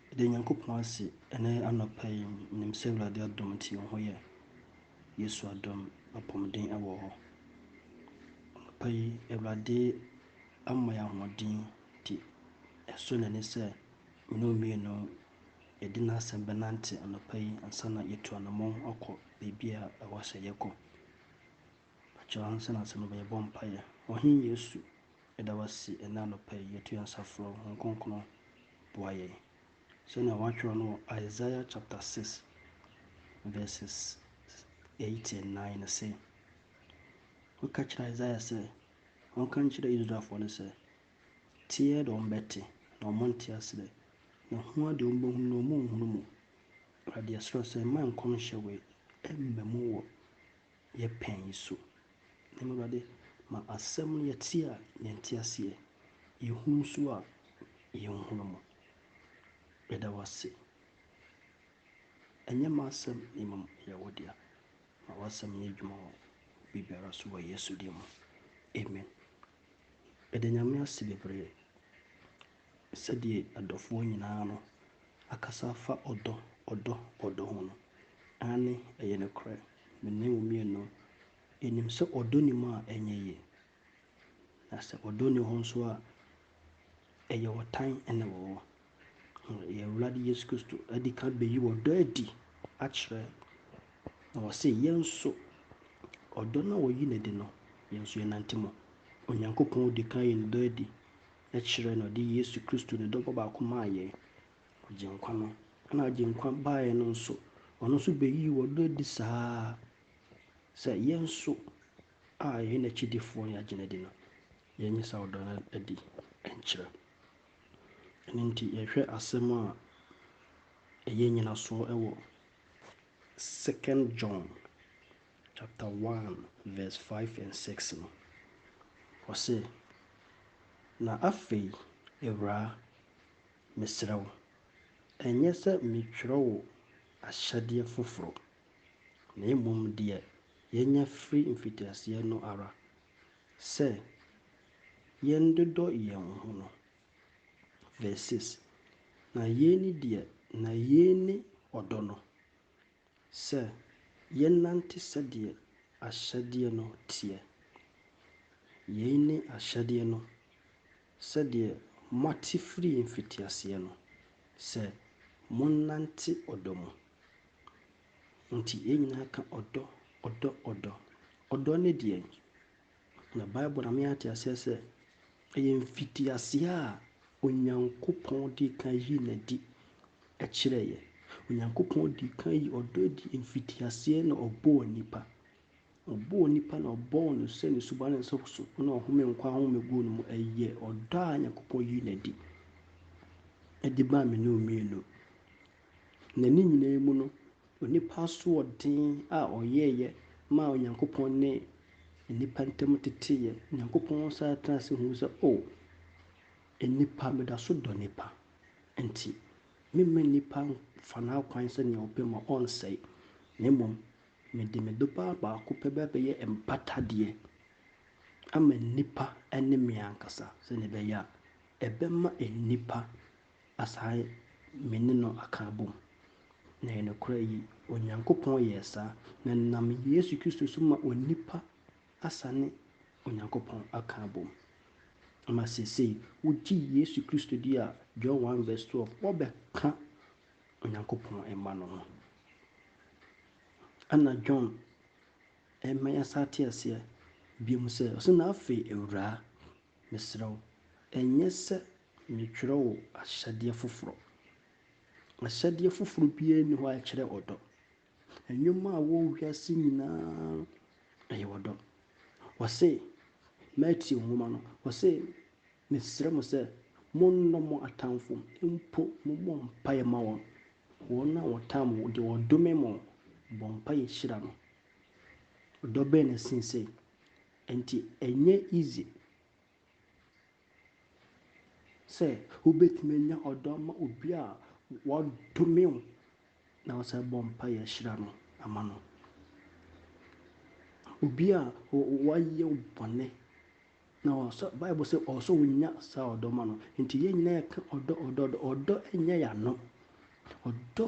Yɛda Nyankopɔn ase ɛnɛ anɔpa yi nim sɛ Awurade adom nti yɛn ho yɛ. Yesu adom apɔmuden wɔ hɔ. Anɔpa yi Awurade ama yɛn ahoɔden nti ɛsɔ n'ani sɛ me ne wo mmienu yɛde n'asɛm bɛnante anɔpa yi ansa na yɛtu anammɔn akɔ baabi a ɛwɔ sɛ yɛkɔ. Mekyerɛ wo ansa na asɛm aba, yɛbɔ mpaeɛ. Ɔhene Yesu, yɛda wo ase ɛnnɛ anɔpa yi, yɛto yɛn nsa frɛ wo, Honhom Kronkron boa yɛn. Sɛnea wɔatwerɛ no wɔ Isaiah chapter 6 verses 8 and 9 no se, Woka kyerɛ Isaiah sɛ, ɔnka nkyerɛ Israelfoɔ no sɛ, Teɛ de wɔbɛte, na wɔnte aserɛ, na hua de wɔbɛhunu, na wɔnhunu mu. Awurade, yɛsrɛ wo sɛ mma nkɔmhyɛ wei mma mu wɔ yɛ pɛn yi so. Na mmom Awurade, ma asɛm no yɛte a, yɛnte aseɛ, yɛhunu nso a, yɛnhunu mu. Yɛda wo ase. Ɛnyɛ m'asɛm na mmom ɛyɛ wo dea. Ma w'asɛm nyɛ adwuma wɔ biribiara so wɔ Yesu din mu. Amen. Meda Nyame ase bebree sɛdeɛ adɔfoɔ nyinaa no akasa afa ɔdɔ, ɔdɔ, ɔdɔ ho no. Aane, ɛyɛ nokorɛ. Me ne wo mmienu nim sɛ ɔdɔ nni mu a ɛnyɛ yie. Na sɛ ɔdɔ nni hɔ nso a, ɛyɛ ɔtan na ɛwɔ hɔ. Yɛn Awurade Yesu Kristo adi kan bɛyi ɔdɔ adi akyerɛ, na ɔse yɛn nso ɔdɔ no a ɔyi no adi no, yɛn nso yɛnante mu. Onyankopɔn di kan yi ne dɔ adi kyerɛ na ɔde Yesu Kristo ne dɔ ba baako maa yɛn, Agyenkwa no, na Agyenkwa baeɛ no nso, Ɔno nso bɛyii Ɔdɔ adi saa ara sɛ yɛn nso a yɛyɛ N'akyidifoɔ no yɛagyina adi no, yɛnyɛ saa ɔdɔ no adi nkyerɛ. Ɛno nti yɛhwɛ asɛm a ɛyɛ nyinasoɔ wɔ Second John chapter 1 verse 5 and 6 no. Ɔse, Na afei, awuraa, Mesrɛ wo, ɛnyɛ sɛ metwerɛ wo ahyɛdeɛ foforɔ, na mmom deɛ yɛanya firi mfitiaseɛ no ara, sɛ yɛndodɔ yɛn ho no. Vs. 6, Na yei ne deɛ na yei ne ɔdɔ no, Sɛ yɛnante sɛdeɛ ahyɛdeɛ no teɛ. Yei ne ahyɛdeɛ no, sɛdeɛ moate firii mfitiaseɛ no, sɛ monnante ɔdɔ mu. Enti yɛn nyinaa ka ɔdɔ, ɔdɔ, ɔdɔ. Ɔdɔ ne deɛn? Na Bible ma yɛate aseɛ sɛ, ɛyɛ mfitiaseɛ a Onyankopɔn dii kan yii no adi kyerɛeɛ. Onyankopɔn dii kan yii ɔdɔ adi mfitiaseɛ na ɔbɔɔ nnipa. Ɔbɔɔ nnipa na ɔbɔɔ no sɛ ne suban ne nsa so na ɔhome nkwa ahome guu no mu. Ɛyɛ ɔdɔ a Onyankopɔn yii no adi de maa mene wo mmienu. Na ne nyinaa mu no, onipa asoɔden a ɔyɛeɛ maa Onyankopɔn ne nnipa ntam teteeɛ. Onyankopɔn san tenaa ase huu sɛ, O, nnipa, meda so dɔ nnipa, enti meremma nnipa mfa n'akwan sɛdeɛ ɔpɛ ma ɔnsɛe, na mmom mede me Dɔba baako pɛ bɛyɛ mpatadeɛ ama nnipa ne me ankasa, sɛdeɛ ɛbɛyɛ a ɛbɛma nnipa Asae me ne no aka abom. Na ɛyɛ nokorɛ yi, Onyankopɔn yɛɛ saa, na nam Yesu Kristo so ma onipa asane Onyankopɔn aka abom. Ama seesei, wogye Yesu Kristo di a, John one verse twelve, wɔbɛka Onyankopɔn mma no ho. Ɛna John ɛma yɛsa ate aseɛ biom sɛ, ɔse, Na afei, Awuraa, mesrɛ wo, ɛnyɛ sɛ Meretwerɛ wo ahyɛdeɛ foforɔ. Ahyɛdeɛ foforɔ biara nni hɔ a ɛkyerɛ ɔdɔ. Nnwuma a ɛwɔ wiase nyinaa ɛyɛ ɔdɔ. Ɔse, Matthew nwoma no, ɔse, mesrɛ mo sɛ monnɔ mo atamfo, mpo mommɔ mpaeɛ mma wɔn. Wɔn a wɔtaa mo, deɛ wɔdome mo, bɔ mpaeɛ hyira no. Ɔdɔ bɛn na ɛsen sei? Enti ɛnyɛ easy sɛ wobɛtumi anya ɔdɔ ama obi a wadome wo na wosan bɔ mpaeɛ hyira no ama no. Obi a wayɛ wo bɔne na ɔsɛ Bible sɛ ɔwɔ sɛ wonya saa ɔdɔ ma no. Nti yɛn nyinaa yɛka ɔdɔ ɔdɔ ɔdɔ ɔdɔ nyɛ yɛn ano. Ɔdɔ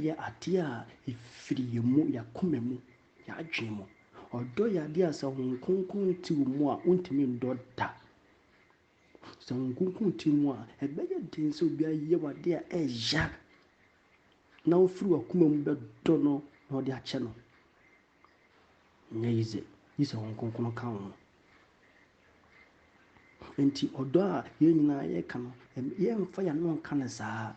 yɛ adeɛ a ɛfiri yɛn mu, yɛn akoma mu Yɛadwen mu. Ɔdɔ yɛ adeɛ a sɛ Honhom Kronkron nte wo mu a, wontumi ndɔ da. Sɛ Honhom Kronkron te wo mu a, ɛbɛyɛ den sɛ obi ayɛ wo adeɛ a ɛya na wofiri w'akoma mu bɛdɔ no na wode akyɛ no. Nyɛ yi dze, gye sɛ Honhom Kronkron ka wo ho. Nti ɔdɔ a yɛn nyinaa yɛka no, yɛmfa y'ano nka no saa.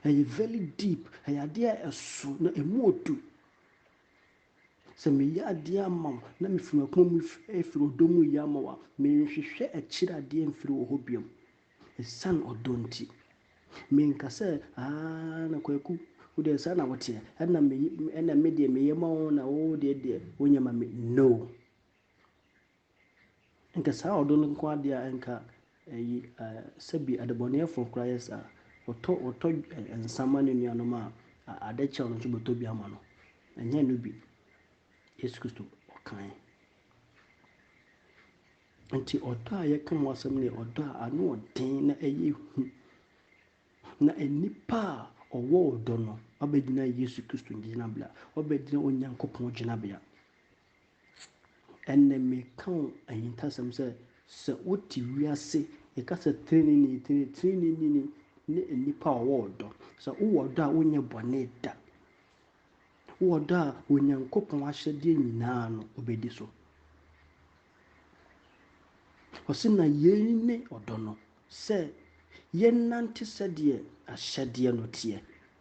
Ɛyɛ very deep, ɛyɛ adeɛ a ɛso na ɛmu ɔdu. Sɛ meyɛ adeɛ ama wo na mefiri m'akoma mu firi ɔdɔ mu yɛ ama wo a, menhwehwɛ akyiri adeɛ mfiri wo hɔ bio ɛsiane ɔdɔ nti. Menka sɛ, aah na Kwaku wo deɛ saa na woteɛ, ɛna me ɛna me deɛ meyɛ ma wo na wo deɛ deɛ wonyɛ ma me. No! Nka saa ɔdɔ no nko ara deɛ a nka ɛyi sɛbi adebɔneyɛfoɔ koraa yɛ saa. Ɔtɔ ɔtɔ nsa ma ne nuanom a ade kyɛ no nso bɛtɔ bi ama no. Ɛnyɛ no bi. Yesu Kristo ɔkae. Nti ɔdɔ a yɛka ho asɛm no yɛ ɔdɔ a ano ɔden na ɛyɛ hu. Na nnipa a ɔwɔ ɔdɔ no wabɛgyina Yesu Kristo gyinabea, wabɛgyina Onyankopɔn gyinabea. Ɛnnɛ meka wo ahintasɛm sɛ, sɛ wote wiase yɛka sɛ treneeni, treneeni ni ne nnipa a ɔwɔ ɔdɔ. Sɛ wowɔ ɔdɔ a wonyɛ bɔne da. Wowɔ ɔdɔ a Onyankopɔn ahyɛdeɛ nyinaa no wobɛdi so. Ɔse na yei ne ɔdɔ no, sɛ yɛnante sɛdeɛ ahyɛdeɛ no teɛ.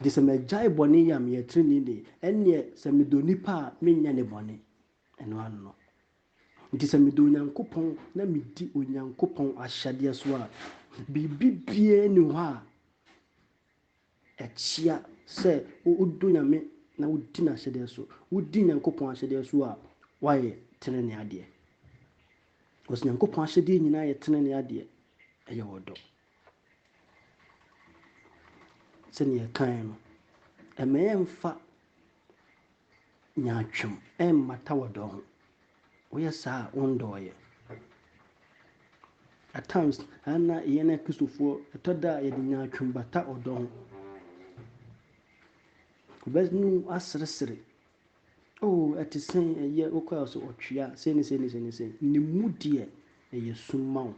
Gye sɛ magyae bɔne yɛ a meyɛ trenee ni, ɛnneɛ sɛ medɔ nnipa a menyɛ ne bɔne. Ɛno ano no. Enti sɛ medɔ Onyankopɔn na medi Onyankopɔn ahyɛdeɛ so a, biribibiara nni hɔ a ɛkyea sɛ wodɔ Nyame na wodi n'ahyɛdeɛ so. Wodi Nyankopɔn ahyɛdeɛ so a, woayɛ tenenee adeɛ. Because Nyankopɔn ahyɛdeɛ nyinaa yɛ tenenee adeɛ, ɛyɛ ɔdɔ. Sɛnea yɛkae no, mma yɛmmfa nyaatwom mmata ɔdɔ ho. Woyɛ saa a, wondɔɔ yɛn. At times, ɛyɛ na yɛn Akristofoɔ, ɛtɔ da a yɛde nyaatwom bata ɔdɔ ho. Wobɛnu aseresere O, ɛte sɛn, ɛyɛ, wokɔ a ɔse, ɔtwea, sei ne sei ne sei ne sei, ne mu deɛ, ɛyɛ sum ma wo,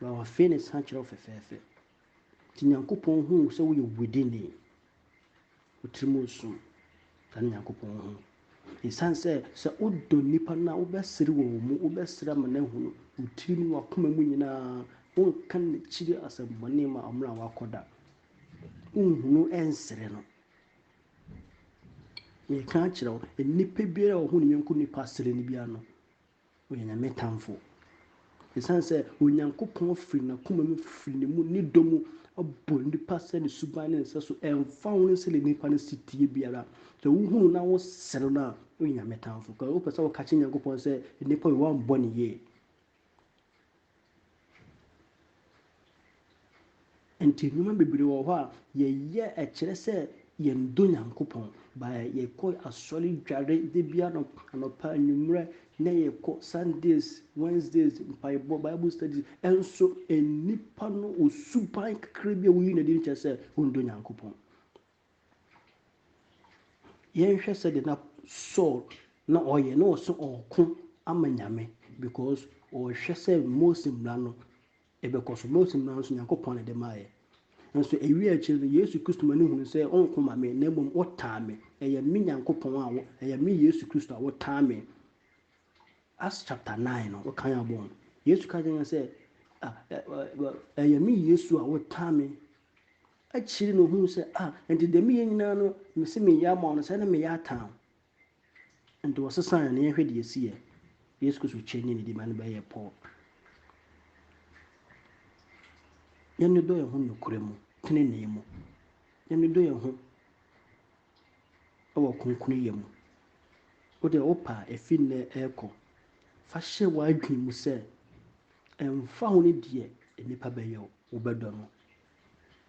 but wafee ne sa kyerɛ wo fɛfɛɛfɛ. Nti Nyankopɔn hu wo sɛ woyɛ widini, wo tiri mu nsum, saa ne Nyankopɔn hu. Ɛsiane sɛ, sɛ wodɔ nnipa no a, wobɛsere wɔ wɔn mu, wobɛsere ama no ahunu, wo tiri mu, wakoma mu nyinaa, wonka n'akyiri asɛmmɔne ma ɔmmerɛ a wakɔ da. Wonhunu ɛnsere no. Mereka akyerɛ wo, nnipa biara a ɔhu ne yɔnko nipa sere no biara no, ɔyɛ Nyame tamfo. Ɛsiane sɛ Onyankopɔn firi n'akoma mu, firi ne mu, ne dɔ mu bɔ nnipa sɛ ne suban ne ne sɛ so, ɛmfa ho ne sɛdeɛ nnipa no si teɛ biara. Sɛ wohu no na wosere no a, woyɛ Nyame tamfo. Wopɛ sɛ woka kyerɛ Nyankopɔn sɛ nnipa wei wɔammɔ no yie. Nti nnoɔma bebree wɔ hɔ a yɛyɛ ɛkyerɛ sɛ yɛn dɔ Nyankopɔn. By yɛkɔ asɔre dware da biara anɔpa anwummerɛ na yɛkɔ Sundays, Wednesdays mpaebɔ, Bible studies ɛnso nnipa no wɔ suban kakra bi a wɔyi no adi no kyerɛ sɛ wɔn dɔ Nyankopɔn. Yɛnhwɛ sɛdeɛ na Saul na ɔyɛ, na ɔse ɔɔko ama Nyame because ɔɔhwɛ sɛ Mose mmara no ɛbɛkɔ so. Mose mmara no so Nyankopɔn na ɛde maayɛ. Nso ɛwie akyire no Yesu Kristo ma no hunu sɛ ɔnko ma me na mmom wotaa me. Ɛyɛ me Nyankopɔn a wo, ɛyɛ me Yesu Kristo a wotaa me. Acts chapter 9 no wokan abɔ ho. Yesu ka kyerɛ sɛ ɛyɛ me Yesu a wotaa me Akyiri na ohun sɛ, Ah, enti dɛm yɛ nyina no mese mereyɛ ama wo no, sɛ na mereyɛ ataa wo. Enti wɔsesaa no na yɛnhwɛ deɛ ɛsiiɛ. Yesu Kristo kyerɛ ne nidi ma no bɛyɛɛ pɔɔ. Yɛnnodɔ yɛn ho nokorɛ mu, tenenee mu. Yɛnnodɔ yɛn ho wɔ kronkronyɛ mu. Wo deɛ wopɛ a, ɛfiri nnɛ rekɔ, fa hyɛ w'adwene mu sɛ, ɛmfa ho ne deɛ nnipa bɛyɛ wo, wobɛdɔ no.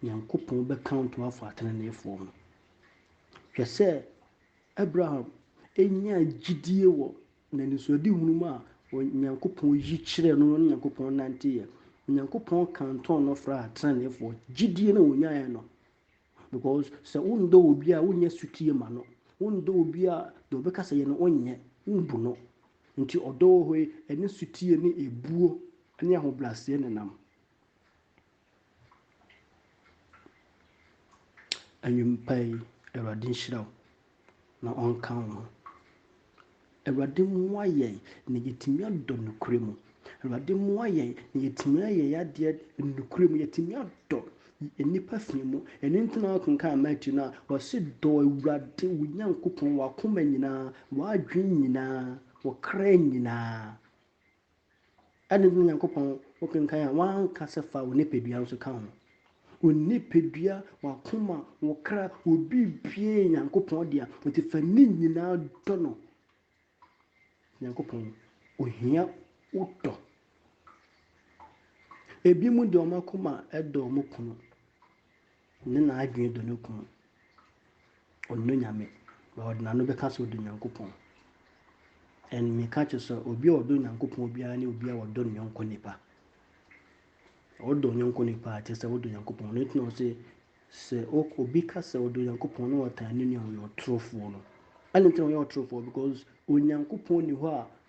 Nyankopɔn bɛkaonto afɔ ateneneefoɔ ho. Hwɛ sɛ Abraham nyaa gyidie wɔ n'anisoadehunu mu a Onyankopɔn yi kyerɛɛ no no ne Nyankopɔn nanteeɛ. Onyankopɔn kantɔn no fraa ateneneefoɔ. Gyidie no a ɔnyaeɛ no, Because sɛ wondɔ obi a wonyɛ sotie ma no, wondɔ obi a deɛ ɔbɛka sɛ yɛ no wonyɛ, wombu no. Nti ɔdɔ wɔ hɔ yi ɛne sotie ne ebuo ne ahobraseɛ na ɛnam. Anwumpa yi Awurade nhyira wo. na ɔnka wo ho. Awurade mmoa yɛn na yɛatumi adɔ nokorɛ mu. Awurade mmoa yɛn na yɛatumi ayɛ yɛn adeɛ nokorɛ mu. Yɛatumi adɔ nnipa fi mu. Ɛno nti na wokenkan Matthew no a, wɔse dɔ Awurade wo Nyankopɔn w'akoma nyinaa, w'adwene nyinaa, wo kra nyinaa. Adɛn nti na Onyankopɔn, wokenkan a, wanka sɛ fa wo nipadua nso ka ho? Wo nipadua, w'akoma, wo kra, wo biribiara yɛ Onyankopɔn dea, enti fa ne nyinaa dɔ no. Onyankopɔn, ohia wo dɔ. Ebinom deɛ wɔn akoma dɔ wɔn kunu, Ɔnye n'adwen dɔ no kun. Ɔnnɔ Nyame, na ɔdze n'ano bɛkã sɛ ɔdɔ Nyankopɔn. And mekã kyerɛ sɛ obi a ɔdɔ Nyankopɔn biara nye obi a ɔdɔ no nyɔnko nyimpa. Ɔdɔ wo nyɔnko nyimpa a kyerɛ sɛ wodɔ Nyankopɔn. Ɔno ntsi na ɔse sɛ obi kã sɛ ɔdɔ Nyankopɔn na ɔtan no nua a ɔyɛ ɔtorfo no. Adɛn ntsi na ɔyɛ ɔtorfo? Because Onyankopɔn nnyi hɔ a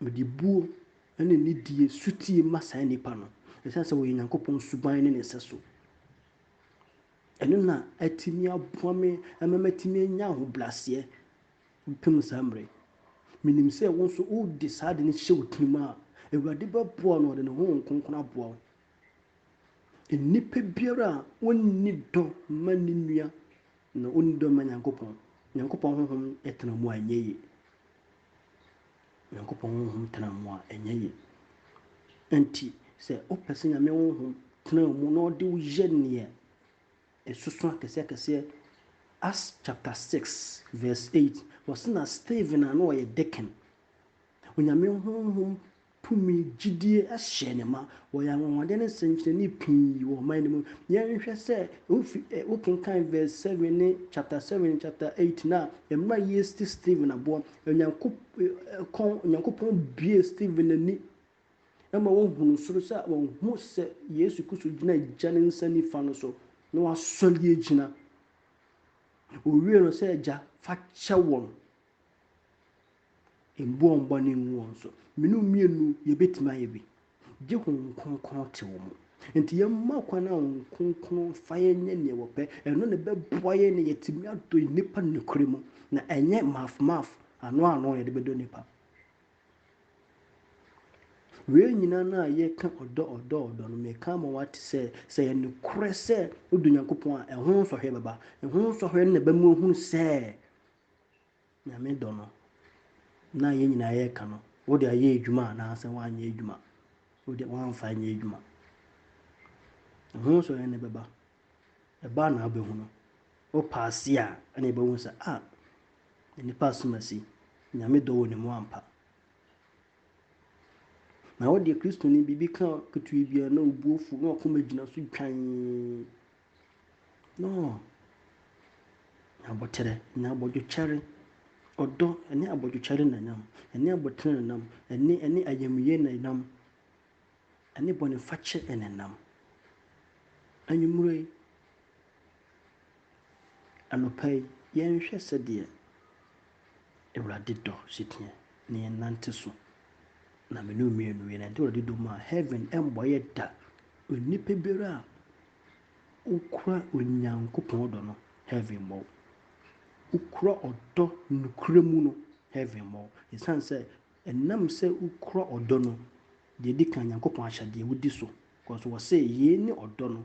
Mede buo ne nidie sotie ma saa nnipa no, ɛsiane sɛ wɔyɛ Nyankopɔn suban ne ne sɛso. Ɛno na atumi aboa me ama matumi anya ahobrɛaseɛ pem saa mmerɛ yi. Menim sɛ wo nso wode saa ade no hyɛ wo tirim a, Awurade bɛboa no, ɔde ne Honhom Kronkron aboa wo. Nnipa biara a ɔnni dɔ ma ne nua Na onni dɔ mma Nyankopɔn. Nyankopɔn Honhom tena mu a, ɛnyɛ ye. Nyankopɔn Honhom tena mu a, ɛnyɛ ye. Enti, sɛ wopɛ sɛ Nyame Honhom tena wo mu na ɔde wo yɛ neɛ ɛsoso akɛseɛ-akɛseɛ, Acts chapter six verse eight, wɔse na Stephen a na ɔyɛ deacon, Onyame Honhom tumi, gyidie hyɛɛ no ma. Wɔyɛ anwanwadeɛ ne nsɛnkyerɛnne pii wɔ ɔman no mu. Yɛnhwɛ sɛ wofi ɛ wokenkan verse seven ne chapter seven, chapter eight no a, mmerɛ a yɛresi Stephen aboɔ, Onyankop ɛ kɔn Onyankopɔn buee Stephen ani ma ɔhunuu soro sɛ ɔhu sɛ Yesu Kristo gyina Agya no nsa nifa no so na wasɔre agyina. Ɔwiee no sɛ, Agya, fa kyɛ wɔn. Mbu wɔn bɔne ngu wɔn so. Me ne wo mmienu, yɛbɛtumi ayɛ bi. Gye Honhom Kronkron te wo mu. Enti yɛmma kwan na Honhom Kronkron mfa yɛn nyɛ deɛ wɔpɛ. Ɛno na ɛbɛboa yɛn na yɛatumi adɔ nnipa nokorɛ mu, na ɛnyɛ maf maf, ano ano na yɛde bɛdɔ nnipa. Wei nyinaa no a yɛka ɔdɔ ɔdɔ ɔdɔ no, meka ama woate sɛ, sɛ yɛ nokorɛ sɛ wodɔ Onyankopɔn a, ɛho nsɔhwɛ bɛba. Ɛho nsɔhwɛ no na ɛbɛma woahunu sɛ Nyame dɔ no na yɛn nyinaa yɛka no, wode ayɛ adwuma anaasɛ woanyɛ adwuma, wode woamfa anyɛ adwuma. Ɛho nso yɛn ne bɛba. Ɛba na abɛhu no. Wo paase a ɛna yɛbɛhu sɛ a, nipa asomasi, Nyame dɔ wɔ ne mu ampa. Na wodeɛ Kristoni biribi ka ketewaa biara na obuo fu na wakoma gyina so dwan na ɔɔ nya aboterɛ, nya abodwokyɛre, ɔdɔ ɛne abodwokyɛre na ɛnam, ɛne aboterɛ na ɛnam, ɛne ɛne ayamyie na ɛnam, ɛne bɔnefakyɛ na ɛnam. Anwummerɛ yi, anɔpa yi, yɛnhwɛ sɛdeɛ Awurade dɔ si teɛ na yɛn nante so na mene mmienu yɛn nante Awurade dɔ mu a heaven ɛmmɔ yɛ da onipa biara a wokura Onyankopɔn dɔ no heaven mmɔ wo wokura ɔdɔ nokura mu no heaven mmɔ wo ɛsiane sɛ ɛnam sɛ wokura ɔdɔ no deɛ di kan Nyankopɔn ahyɛdeɛ wodi so kɔso wɔ sɛ yei ne ɔdɔ no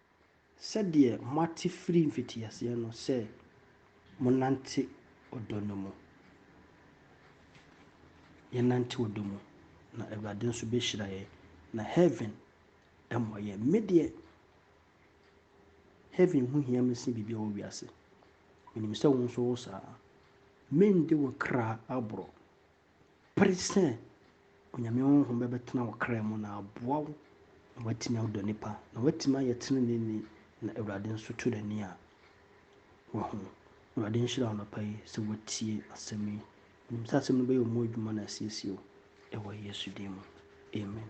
Sɛdeɛ moate firi mfitiaseɛ no sɛ monnante ɔdɔ no mu. Yɛnnante ɔdɔ mu, na Awurade nso bɛhyira yɛn, na heaven mmɔ yɛn. Me deɛ, heaven ho hia me sen biribiara wɔ wiase. Menim sɛ wo nso wo saa. Mende wo kra aborɔ, Pere sɛ Onyame honhom bɛbɛtena wo kra mu na aboa wo na woatumi adɔ nnipa na woatumi ayɛ teneneeni na Awurade nso to n'ani a wahu. Awurade nhyira wo anɔpa yi sɛ woatie asɛm yi. Menim sɛ asɛm no bɛyɛ wo mu adwuma na asiesie wo wɔ Yesu din mu. Amen.